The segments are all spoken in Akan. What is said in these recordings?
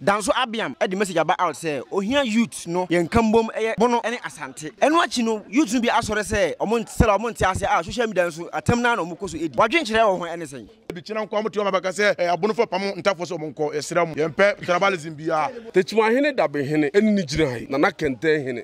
Da nso Abiam de message aba out sɛ ohia youths no yɛ nka mbom ɛyɛ Bono ne Asante. Ɛno akyi no youths no bi asɔre sɛ ɔmo nte sɛla ɔmo nte aseɛ a social media nso atɛm no ara na ɔmo kɔ so di. W'adwenkyerɛ wɔ ho ɛne sɛn? Ebikyina nko a ɔmo te hɔ ma bɛka sɛ ɛyɛ Abono fo pamo ntafo sɛ ɔmo nkɔ yɛsrɛ mo yɛmpɛ tribalism biaa. Techimanhene Dabehene ɛne ne gyinae Nana Kɛntɛnhene.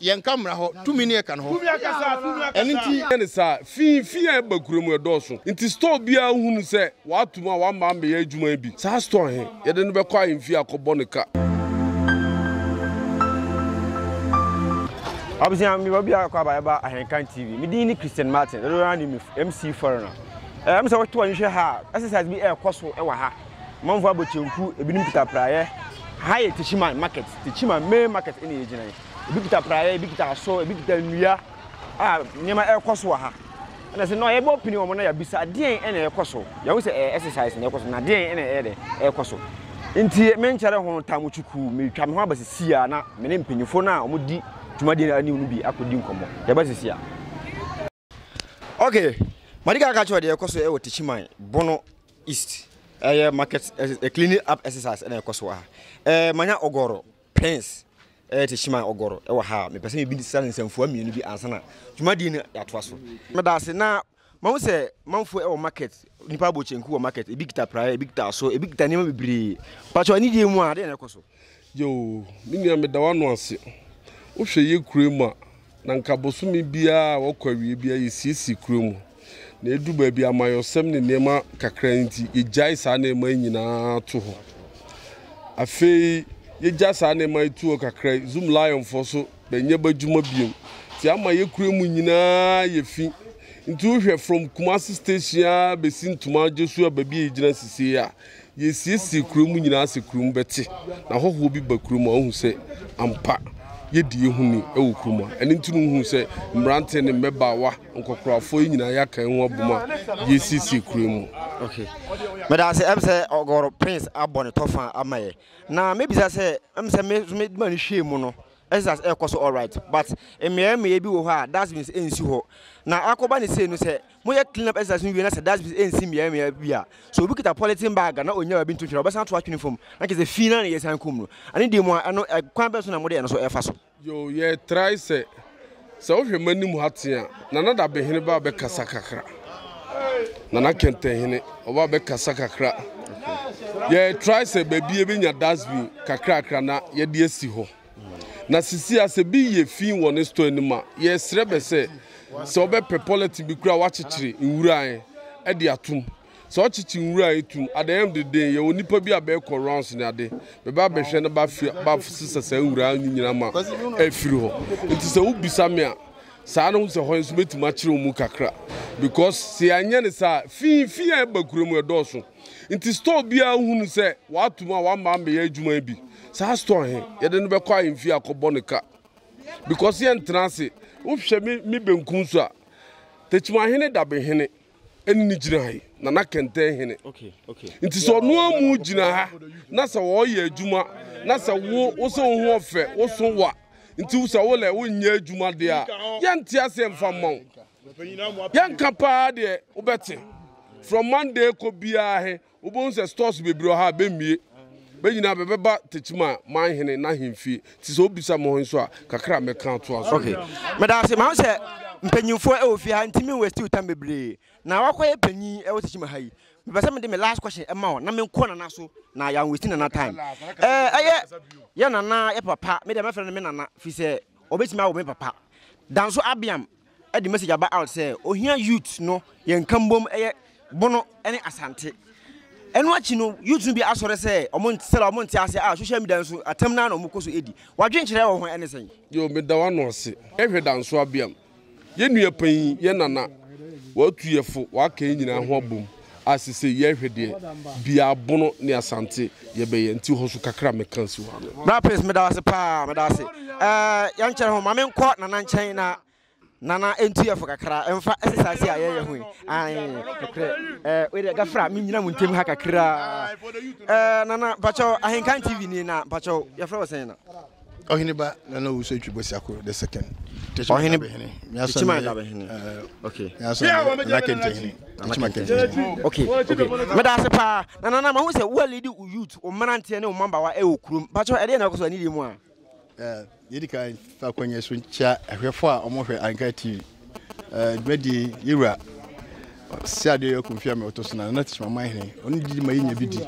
Yɛnka mmara hɔ, tumi ne ɛka no hɔ. Ɛno nti. Yɛ no saa. Fi fi a ɛba kura mu ɛdɔɔso nti store biara hunu sɛ wɔato mu a wɔamma ammɛyɛ adwuma yi bi. Saa store he, yɛde no bɛkɔ ahemfie akɔbɔ no ka. Abusua, mewɔ bia kɔ aba ɛba Ahenkan TV. Me din ne Christian Martin, dodoɔ no ara nim me MC Foreigner. Ɛm sɛ woto ani hwɛ ha a, exercise bi ɛɛkɔ so ɛwɔ ha. Amanfoɔ abɔ kyenku, ebinom kita praeɛ. Ha yɛ Techiman market, Techiman main market ɛna yɛgyina yi. Ebi kita praeɛ, ebi kita aso, ebi kita nnua a nneɛma ɛrekɔ so wɔ ha. Ɛna sɛ na yɛbɔ pini wɔn na yɛabisa adeɛn ɛna ɛrekɔ so. Yɛahu sɛ ɛyɛ exercise na ɛrekɔ so na adeɛn ɛna ɛyɛ dɛ ɛrekɔ so. Nti menkyɛre ho tam chuku metwa me ho aba sisi a na me ne mpanyinfoɔ no a wɔdi dwumadie no anim no bi akɔdi nkɔmmɔ. Yɛba sisi a. Okay, madi kan aka kyerɛ deɛ ɛkɔ so ɛwɔ eh, Techiman Bono East ɛyɛ eh, market ɛyɛ eh, cleaning up exercise ɛna ɛkɔ so wɔ ha ɛɛ manya ɔgɔrɔ prince ɛyɛ Techiman ɔgɔrɔ ɛwɔ ha mepɛ sɛ mebi sa nsɛmfua mmienu bi ansa na dwumadie no yɛatoa so meda ase na mahu sɛ manfoɔ ɛwɔ market nipa abɔ kyenku wɔ market ebi kita praeɛ ebi kita aso ebi kita nneɛma bebree pakyɛ anidie mu a deɛ na ɛkɔ so Yow me nua meda w'ano ase. Wohwɛ yɛ kura mu a, na nka bosome biara a wɔkɔ awiei biara yesiesie kura mu. Na edu baabi amayɔsɛm ne nneɛma kakra nti, yegyae saa nneɛma yi nyinaa to hɔ. Afei yegya saa nneɛma yi to hɔ kakra yi, Zuma Lionfoɔ so bɛnyɛ b'adwuma biom. Nti ama yɛ kura mu nyinaa ayɛ fi. Nti wohwɛ from Kumasi station ara besi Ntomaa Joshua baabi a yegyina sisi yi a, Yesiesie kurow mu nyinaa sɛ kurom bɛte, na hɔhoɔ bi ba kurom a, ɔhu sɛ ampa yɛdi yɛ ho ni wɔ kurom a. Ɛno nti no wohu sɛ mmerante ne mmɛbaawa, nkɔkorafoɔ, yɛ nyinaa yɛaka yɛ ho abom a yɛresiesie kurow mu. Ok. Meda ase. Ɛm sɛ Ɔgɔr Prince abɔ ne tɔfa ama yɛ. Na mɛbisa sɛ, ɛm sɛ me nso me ma no hwɛɛ mu no, exercise ɛrekɔ so alright, but mmeaɛ mmeaɛ bi wɔ hɔ a dustbins ɛnsi hɔ. Na akɔba no sei no sɛ Moyɛ clean up exercise no wie na sɛ dustbins ɛnsi mmeaɛ mmeaɛ bi a, sɛ obi kita polythene bag a na ɔnnya baabi nto nhwera a, ɔbɛsan ato atwene fam na kyerɛ sɛ fii no ara na yɛsan kum no. Ɛno deɛ mu a, ɛno ɛ, kwan bɛn so na mode ɛno so ɛfa so? Yoo, yɛtrae sɛ, sɛ wohwɛ m'anim ha tee a, Nana Dabehene ba bɛkasa kakra, Nana Kɛntɛnhene ɔba bɛkasa kakra. Yɛtrae sɛ baabi yɛbɛnya dustbin kakrakra na yɛde asi hɔ. Na sisi a sɛ bi yɛ fii wɔ ne store anim a, yɛsrɛ bɛ sɛ, sɛ ɔbɛpɛ pɔlɛten bi koraa a wɔakyekyere nwura ɛ ɛde atom. Sɛ ɔkyekye nwura ɛ tom a, dɛɛm de den, yɛwɔ nnipa bi a bɛɛkɔ rounds ne ade, bɛba abɛhwɛ na bɛafi bɛasesa saa nwura no nyinaa ma afiri hɔ. Nti sɛ wobisa me a, saa na wohu sɛ hɔ nso mɛtumi akyerɛ wo mu kakra. Because sɛ yɛanyɛ no saa a, fii fii a ɛba kura mu ɛdɔɔso. Nti store biara hunu sɛ wɔato mu a wɔama ammɛyɛ adwuma yi bi. Saa store he, yɛde no bɛkɔ ahemfie akɔbɔ no ka. Because yɛntena ase. Wohwɛ me me benkum so a, Tekyimahene Dabehene ɛne ne gyina ha yi, Nana Kɛntɛn hene. Nti sɛ ɔno amu gyina ha na sɛ wɔyɛ adwuma na sɛ wo wo sɛ wo ho ɔfɛ, wo so wa, nti wo sɛ wo lɛ wonyɛ adwuma deɛ a, yɛnte ase mfa mma wo. Yɛnka paa deɛ wobɛte. From Monday kɔ biara he, wobɛhu sɛ stores bebree wɔ ha a bɛmmie. Bɛ nyinaa bɛbɛba Tekyima Manhene n'ahemfie. Nti sɛ wobisa mo he nso a, kakra a mɛka atoa so. Okay. Meda ase. Mahu sɛ mpanyimfoɔ wɔ fie ha nti me waste wo time bebree. Na woakɔyɛ panyin wɔ Tekyima ha yi. Mepɛ sɛ mede me last question ma wo na menkɔ Nana so na yɛ anwaste Nana time. Ɛɛ, ɛyɛ yɛ Nana yɛ papa, me deɛ mɛfrɛ no me Nana firi sɛ ɔbɛtumi awo me papa. Danso Abiam de message aba out sɛ ohia youth no yɛ nka mbom ɛyɛ Bono ne Asante. Ɛno akyi no youth no bi asɔre sɛ ɔmo sɛla ɔmo nte ase a social media nso atam naa na ɔmo kɔ so edi. Wadwenkyerɛ wɔ ho ɛne sɛn? Yoo meda w'ano ase. Hwɛ Danso Abiam, yɛn nua panyin, yɛn nana, w'atuyɛfo, w'aka yɛn nyinaa ho abom. a sesei yɛhwɛ deɛ bia abono ne asante yɛbɛyɛ nti hɔ so kakra meka nsi hɔ ano. Bra Prince meda wo ase paa meda wo ase eh, yɛnkyɛre ho ma menkɔ Nana nkyɛn na Nana ɛntu yɛfo kakra ɛmfa exercise a yɛyɛ ho yi ae nokorɛ eh, wei deɛ gafra menyina mu ntem ha kakra eh, Nana mpakyɛw Ahenkan TV ni na mpakyɛw yɛfrɛ wɔ sɛn na Ɔhene ba na na ɔwusu atwi Bosiako the second. Ɔhene Dabehene. Tekyima Dabehene. Eh, okay. Nyaso na kente hene. Tekyima kente hene. Okay. Okay. Meda ase paa. Na nana ma hu sɛ wo lead wo youth, wo mmeranteɛ ne wo mmabaawa ɛwɔ eh, kurom. Patro ɛdeɛ na ɛkɔ so anidie mu a. Eh, yɛdi kan fa kɔnyɛ so nkyia ahwɛfo a wɔhwɛ Anka TV. dwadi yewura si ade yɛ kun fiame ɔtɔ so na na tishma man hene ɔno didi ma yɛnya bi di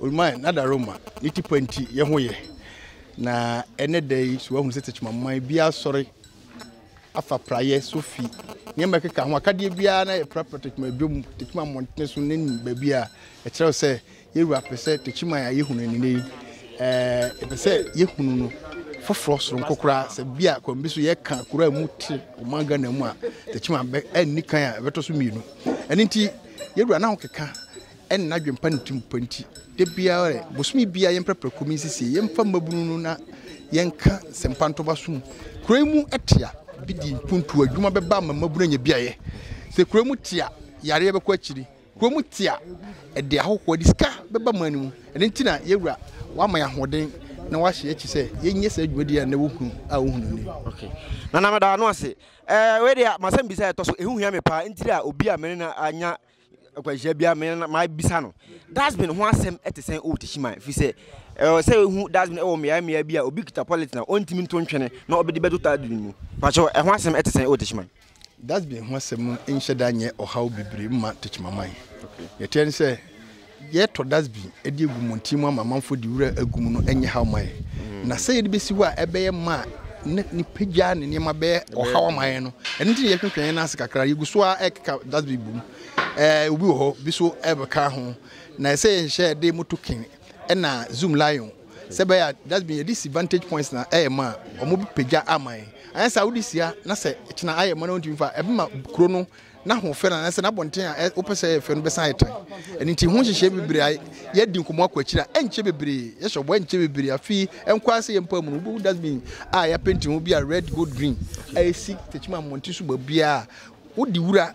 oluman na da roma ne tipa nti yɛ ho yɛ na ɛnɛ da yi so ahunu sɛ tishma man bi asɔre afa prayɛ sofi nneɛma ɛkeka ho akadeɛ biara na yɛ prapra tishma adwom tishma mmɔntene so ne baabi a ɛkyerɛw sɛ Yewura pɛ sɛ Techiman a yɛhu no nnɛnɛ yi, yɛpɛ sɛ yɛhunu no foforɔ soronko koraa. Sɛ bi a kwan bi so yɛka kuro a ɛmu te ɔman Ghana mu a, Techiman bɛ, ɛnni kan a ɛbɛtɔ so mmienu. Ɛno nti, Yewura na ɔkeka ɛne n'adwene pa ne tirim pa nti, da biara ɛ, bosome biara yɛmprapra kurom nsisie, yɛmfa mmabunu no na yɛnka sɛmpa nto ba so mu. Kuro yi mu te a, bedi mpuntuo, adwuma bɛba ama mmabunu anya biayɛ. Sɛ kuro yi mu te a, yareɛ bɛkɔ akyiri. Kurom te a, ɛde ahɔhoɔ, ɛde sika bɛba man no mu. Ɛno nti na yɛn Wura wama yɛn ahoɔden na wahyɛ yɛn akyi sɛ yɛnyɛ saa dwumadie a nnɛ wohunu a wohunu nnɛ yi. Okay. Nana meda ano ase. Eh, wei deɛ masɛm bisa ɛtɔ so ɛho hia me paa ntiri a obi a mene no anya akwanhyia bia me na mabisa no dustbin ho asɛm ɛte sɛn ɛwɔ Teshiman ɛfiri sɛ ɛwɔ sɛ ɛhu dustbin ɛwɔ mmeae mmeae bi a obi kita polythene a ɔntumi nto ntwene na ɔbɛde bɛto dustbin mu pakyɛw ɛho asɛm ɛte sɛn ɛwɔ Teshiman. Dustbin ho asɛm no nhyɛ da nyɛ ɔhaw bebree mma Techimanman. Nea ɛteɛ ne sɛ, yɛtɔ dustbin de agu mmɔnten mu ama amanfoɔ de wura agu mu no nyɛ haw mma yɛn. Mm. Na sɛ yɛde bɛsi hɔ a ɛbɛyɛ ma ne nipa gya ne nneɛma bɛyɛ ɔhaw ama yɛn no, ɛno nti na yɛhwehwɛ yɛn nan ase kakra, yɛgu so a ɛkeka dustbin bom. Ɛɛ obi wɔ hɔ, bi so ɛbɛka ho. Na ɛsɛ yɛnhyɛ de moto kin ɛna zoom lion sɛ bɛyɛ a dustbin yɛde si vantage points na ɛyɛ ma a wɔbɛpagya ama yɛn anyɛ sɛ wode si a na sɛ kyena ayɛ ma na wontumi fa ɛbɛma kuro no n'ahoɔfɛ no anaasɛ n'abɔnten a wopɛ sɛ ɛyɛ fɛ no bɛsan ayɛ tan ɛno nti ho nhyehyɛ bebree a yɛadi nkɔmmɔ akɔ akyiri a ɛnkyɛ bebree yɛhyɛ ɔbɔ ɛnkyɛ bebree afei ɛnkɔ ase yɛ mpa mu no wobɛhu dustbin a yɛapenti ho bi a red gold green a ɛsi takyima mmɔnten so baabiaa wode wura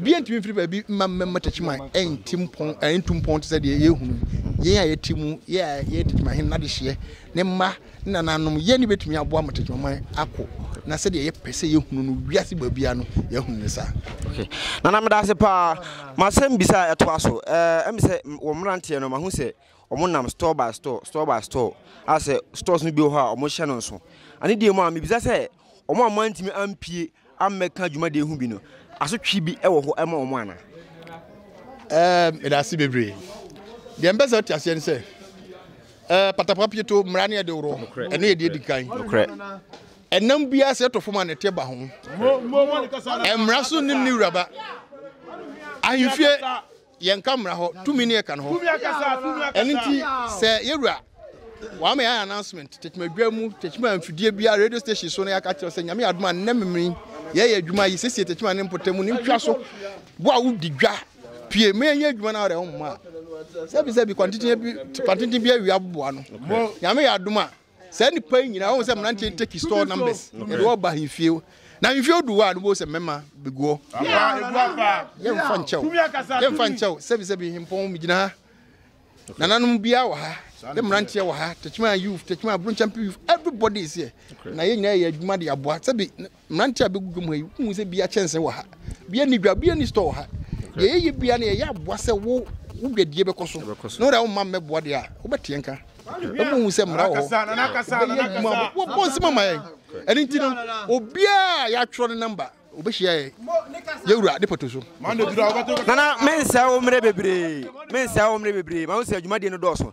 Obiara ntumi mfiri baabi mma mmɛma Techiman nnti mpɔn, nntu mpɔn te sɛ deɛ yɛrehunu yi. Yɛn a yɛte mu, yɛn a yɛyɛ Techiman Hene n'adehyeɛ, ne mma, ne nananom, yɛn ne bɛtumi aboa ma Techiman man akɔ, na sɛdeɛ yɛpɛ sɛ yɛhunu no wiase baabiara no, yɛahunu no saa. Okay. Nana, meda ase paa. M'asɛm bisa a ɛtoa so. Ɛɛ, ɛmi sɛ wɔ mmeranteɛ no, mahu sɛ wɔn nam store by store, store by store, a sɛ stores no bi wɔ hɔ a wɔhyɛ no nso. Ɛne deɛ mu a, mebisa sɛ wɔn a wɔantumi ampie ammɛka dwumadie ho bi no, asotwe bi wɔ hɔ ma wɔn anaa? Ɛɛm, meda ase bebree. Deɛ mpɛ sɛ wote aseɛ ne sɛ, ɛɛ patapapa pieto mmara ne ɛde worɔ, ɛno yɛ deɛ edi kan. Nokorɛ. Ɛnam biara sɛ ɛtɔ fam a na ɛte ba ho. Mmara so nim ne wuraba. Ahemfie Yɛnka mmara hɔ tumi ne ɛka no hɔ. Ɛno nti sɛ yɛwura wɔama yɛn announcement tetemadwa mu tetema mfidie biara radio station so na yɛaka kyerɛ sɛ nyame adom a nnɛ memene yɛyɛ adwuma yi sɛsie tetema ne mpɔtam mu ne ntwa so bo a wodi dwa pie ma yɛnyɛ adwuma no a wɔde ho mma sɛbi sɛbi kwantenten bi kwantenten bi awia boboa no nyame yɛ adom a Saa nipa yi nyinaa ɔhu sɛ mmeranteɛ no take store numbers yɛde wɔ ba ahemfie na ahemfie odu hɔ a no bɛhu sɛ mmarima bɛgu hɔ yɛmfa nkyɛw yɛmfa nkyɛw sɛbisɛbi hempɔn megyina ha nananom biara wɔ ha ne mmeranteɛ wɔ ha tekyima youth tekyima abronkyampe youth everybody is here na yɛn nyinaa yɛ adwuma de aboa sɛbi Mmeranteɛ a bɛgu dwom ha yi, wohu sɛ bia kyɛnse wɔ ha, bia ni dwa, bia ni store wɔ ha. Deɛ yɛyɛ bia no yɛyɛ aboa sɛ wo wo dwadie bɛkɔ so. Na wo deɛ womma mmɛboa deɛ a, wobɛteɛ nka. Ɛmu hu sɛ mmara wɔ hɔ. Wobɛyɛ adwuma a wɔbɔ nsɛm ama yɛn. Ɛno nti no, obiara a yɛatwerɛ ne namba, wobɛhyia yɛn. Yɛwura de pato so. Nana, mensɛe wo mmerɛ bebree. Mensɛe wo mmerɛ bebree. Mahu sɛ adwumadie no dɔɔso.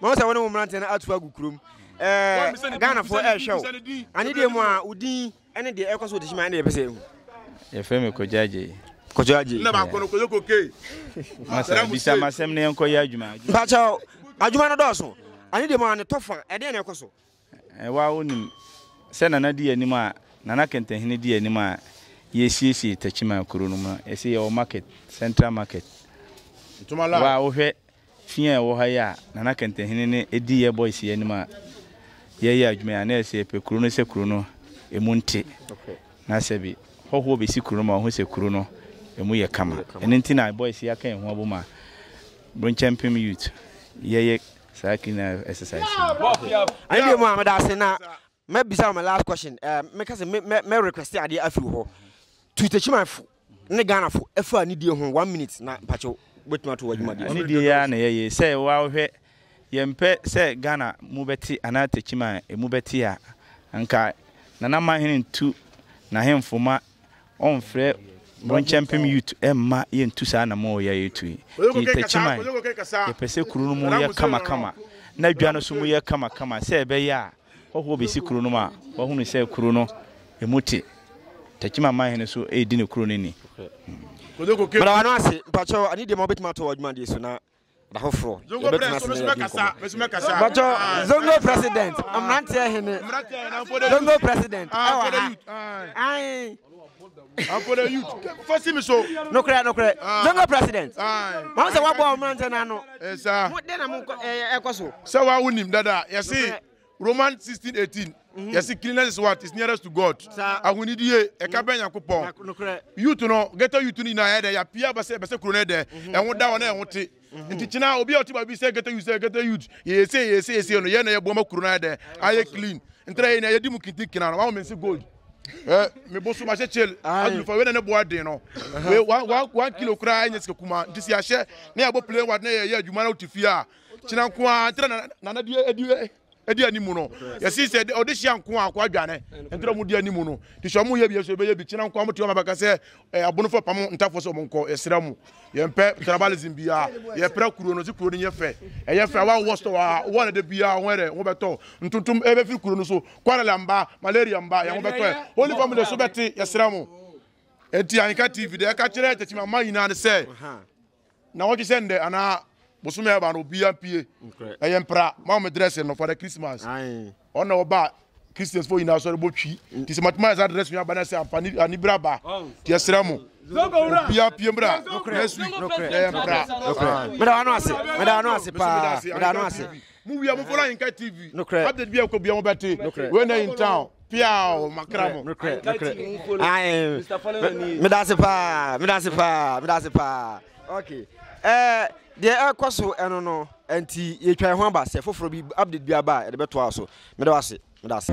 Mahu sɛ wo ne wo mmeranteɛ no ato agu kurom. Ɛɛ Ghanafoɔ ɛrehwɛ wo. Anidie mu a, wo din ne deɛ ɛrekɔ so wɔ Techiman ne yɛpɛ sɛ ɛhu. Yɛfrɛ me Kojo Adjei. Kojo Adjei. Na baako no Kojo Kokey. Masa bisa m'asɛm na yɛnkɔyɛ adwuma. Mpakyɛw, adwuma no dɔɔso. Anidie mu a, ne tɔfa, ɛdeɛn na ɛkɔ so? Ɛ Woa wonim sɛ Nana di anim a Nana Kɛntɛnhene di anim a yɛresiesie Takyimaa kuro no mu no, yɛse yɛwɔ market, central market. Wo a wohwɛ fi a ɛwɔ ha yi a Nana Kɛntɛnhene no di yɛ boys yi anim a yɛreyɛ adwuma yi a, na yɛse yɛpɛ kuro no sɛ kuro no ɛmu nte na sɛbi hɔhoɔ bɛsi kuro no ma wɔhu sɛ kuro no ɛmu yɛ kama. Ɛno nti na boys yi aka yɛn ho abom a Bronkyɛmpem youth yɛyɛ saa clean up exercise no. Ɛne deɛ mu a meda ase na mɛbisa wo my last question eh, meka sɛ mɛ request adeɛ afi wo hɔ to takyimanfo ne Ghanafo ɛfa anidie ho one minute na mpakyɛw wobɛtumi ato w'adwumadeɛ anidie yɛ a na yɛyɛ sɛ woahwɛ yɛmpɛ sɛ Ghana mu bɛte anaa takyiman ɛmu bɛte a anka nana mahene ntu n'ahemfo ma ɔnfrɛ Bronkyɛmpem youth mma yɛntu saa anamɔn yi a yɛretu yi. Nti Takyiman, yɛpɛ sɛ kuro no mu yɛ kamakama na dwa no nso mu yɛ kamakama sɛ ɛbɛyɛ a hɔhoɔ bɛsi kuro no mu a wɔahunu sɛ kuro no ɛmu te. Takyiman manhene nso redi ne kuro no ni. Meda w'ano ase. Mpakyɛw, anidie ma wobɛtumi ato w'adwumadeɛ so na Da foforɔ yɛbɛtena ase na yɛadi nkɔmmɔ. Bɔtɔ Zongo president mmeranteɛ hene Zongo president ɛwɔ ha. Ayi. Afɔlɛ youth fɔsi mi so. Nukurɛ nukurɛ Zongo president. Wɔn sɛ wɔbɔ wɔn mmeranteɛ n'ano. Ɛsa. Mo den na mo ɛkɔ so. Sɛ wa wunim dada yɛsi. Romans sixteen eighteen mhm. yɛsi cleanliness is what is nearest to God ahonidie ɛka bɛn Nyankopɔn youth no ghetto youth no nyinaa ɛdɛ yapia bɛsɛ bɛsɛ kuro no ɛdɛ mhm. ɛho da hɔ na ɛho te mhm. nti kyina obi a ɔte baabi sɛ ghetto youth sɛ ghetto youth yɛyɛsɛ yɛyɛsɛ yɛsɛ no yɛn na yɛboa ma kuro no ayɛ ayɛ clean ntɛrɛ yɛ nyinaa yɛdi mu kintinkina no wɔn mɛ nsi gold eh, me bosu ma kyekye adulufo wei na ne boa den no wei one kilo koraa ɛnyɛ sika kuma nti si ahyɛ ne yɛ bɔ plane ward ne yɛ yɛ adwuma na wote fie a kyena nko ara nti na nana di edi edi anim no yɛsi sɛ ɔde hyia nko ara akɔ adwane nti na ɔmo di anim no te sɛ ɔmo yɛ bi ɛso ɛbɛyɛ bi kyena nko ara ɔmo te ɔmo abɛka sɛ ɛɛ abonofo pam ntafo sɛ ɔmo nkɔ yɛsrɛ mo yɛn pɛ tribalism bia yɛpra kuro no si kuro no yɛ fɛ ɛyɛ fɛ awa wɔ store a wɔn ɛde bia wɔn ɛdɛ wɔn bɛtɔ ntontom ɛbɛfiri kuro no so kɔrɛla mba malaria mba yɛn wɔn bɛtɔ holy family so bɛte yɛsrɛ mo eti anka tv deɛ ɛka kyerɛ tɛkyima mma nyinaa ne sɛ Nnawɔtwe sɛ ndɛ anaa bosome a ɛba no obiara mpie. Ɛyɛ mpra ma wɔn dressing no for the Christmas. Ɔno na ɔba Christians fo nyinaa sɔre bɔ twi. Ti sɛ matuma ɛsa dressing yɛ aba na ɛsɛ ampa ni anibere aba. Ti ɛsrɛ mo. Obiara pie mbra next week. Ɛyɛ mpra. Meda ano ase. Meda ano ase paa. Meda ano ase. Mo wia mo fɔlɔ ayinka TV. Nukurɛ. Update bi a ɛkɔ bia mo bɛ te. Nukurɛ. Wei na in town. Piaw makra mo. Nukurɛ nukurɛ. Ayin. Mr Fɔlɔ na ni. Me da se paa me da se paa me da se paa. Okay ɛɛ deɛ ɛkɔ so ɛno no ɛnti yɛ twa ɛho aba sɛ foforɔ bi update bi aba a yɛde bɛ to a so. Me da wase me da se.